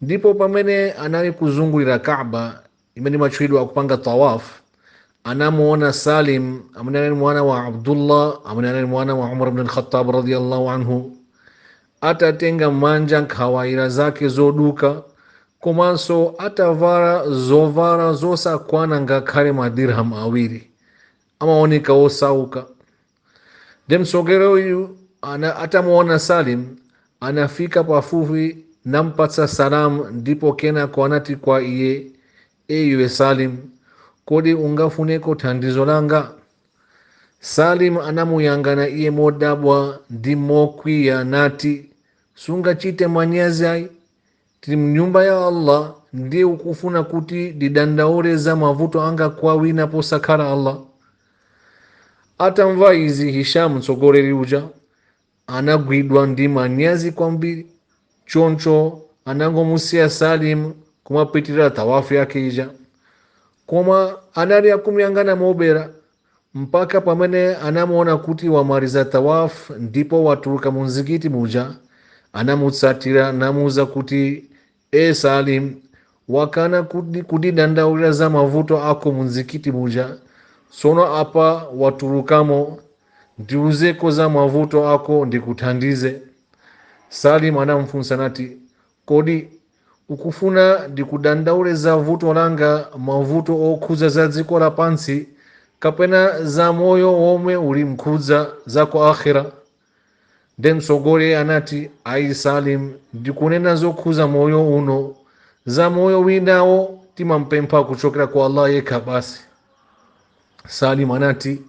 ndipo pamene anali kuzungulira kaba imene imatchulidwa akupanga tawaf anamuona salim amene anali mwana wa abdullah amene anali mwana wa umar bn khatab radiallahu anhu atatenga mmanja nkhwaira zake zoduka komanso atavala zovala zosakwana ngakhale madirham awiri amaoneka osauka Nde mtsogoleri uyu atamuona Salim anafika pafupi nampatsa salam ndipo kenako anati kwa iye iwe Salim kodi ungafuneko thandizo langa Salim anamuyang'ana iye modabwa ndi mokwiya nati sungachite manyazi ayi Tili mnyumba ya Allah ndiye ukufuna kuti ndidandaule za mavuto anga kwa wina posakhala Allah? Atamva izi Hisham mtsogoleri uja anagwidwa ndi manyazi kwambiri, choncho anangomusiya Salim kumapitirira tawafu yake ija. Koma anali akumuyang'ana mobera mpaka pamene anamuona kuti wamaliza Tawaf ndipo watuluka mu mzikiti muja, anamutsatira namuuza kuti, E Salim, wakana kundidandaulira za mavuto ako mu mzikiti muja, tsono apa watulukamo, ndiuzeko za mavuto ako ndikuthandize. Salim anamufunsa nati, Kodi ukufuna ndikudandaule za vuto langa, mavuto okhudza za dziko lapansi, kapena za moyo womwe uli mkudza za ku Akhira? Nde mtsogoleri anati, Ayi Salim, ndikunena zokhudza moyo uno, za moyo winawo timampempha kuchokera kwa Allah Yekha basi. Salim anati,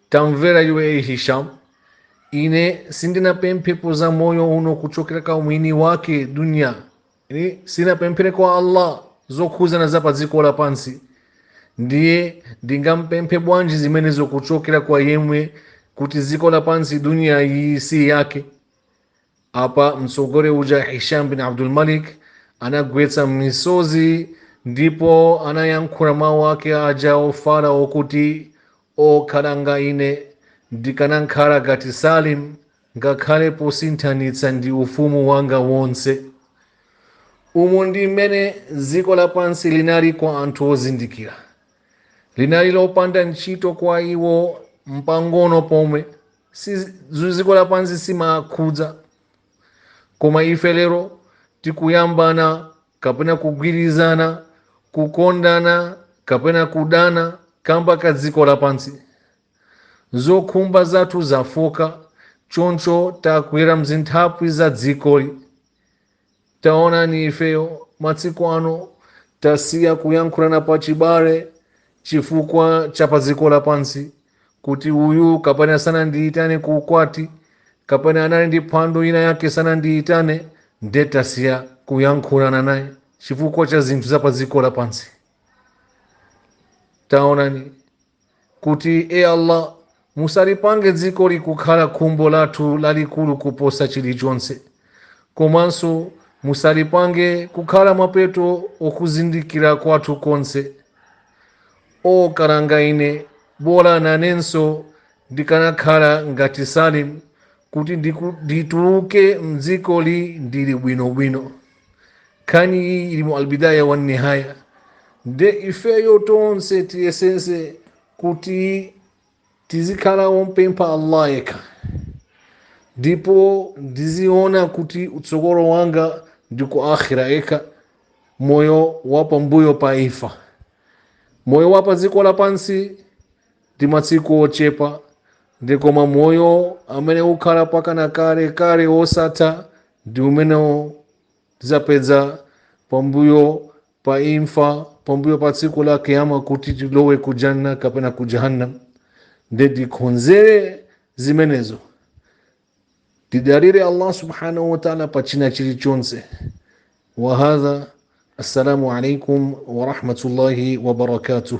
Tamvera iwe, Ee Hisham! ine sindinapemphepo za moyo uno kuchokera kwa mwini wake dunya ine sinapempheko kwa allah zokhuzana za pa dziko lapansi ndiye ndingampemphe bwanji zimenezo kuchokera kwa yemwe kuti dziko lapansi dunya iyi si yake Apa mtsogoleri uja Hisham bin Abdul Malik anagwetsa misozi ndipo anayankhula mawu ake aja ofala okuti akhalanga ine ndikanakhala ngati Salim ngakhale posinthanitsa ndi ufumu wanga wonse. Umu ndi mmene dziko lapansi linali kwa anthu ozindikira, linali lopanda ntchito kwa iwo mpang'ono pomwe. za dziko lapansi sizimawakhudza koma ife lero tikuyambana kapena kugwirizana kukondana kapena kudana kamba ka dziko lapansi zokhumba zathu zafooka choncho tagwera mzithaphwi za dzikoli Taonani, ifeyo masiku ano tasiya kuyankhulana pa chibale chifukwa cha pa dziko lapansi, kuti uyu kapena sanandiyitane ku ukwati, kapena anali ndi phwando ina yake sanandiyitane, nde tasiya kuyankhulana naye chifukwa cha zinthu za pa dziko lapansi. Taonani, kuti, E Allah! Musalipange dzikoli kukhala khumbo lathu lalikulu kuposa chilichonse, komanso musalipange kukhala mapeto okuzindikira kwathu konse. O kalanga ine! Bola nanenso ndikanakhala ngati Salim kuti ndituluke m'dzikoli ndili bwinobwino. nkhani iyi ili mu albidaya wa nihaya nde ifeyo tonse tiyesetse kuti tizikhala ompempha allah yekha ndipo ndiziona kuti utsogolo wanga ndi ku akhira yekha moyo wa pambuyo pa imfa moyo wa pa dziko lapansi ndi masiku ochepa koma moyo amene ukhala mpakana kale kale wosatha ndi umene tizapeza pambuyo pa imfa pambuyo pa tsiku la kiyama kuti tilowe ku janna kapena ku jahannam nde tikonzere zimenezo tidalire allah subhanahu wataala pa china chilichonse wahadha assalamu alaikum warahmatullahi wabarakatuh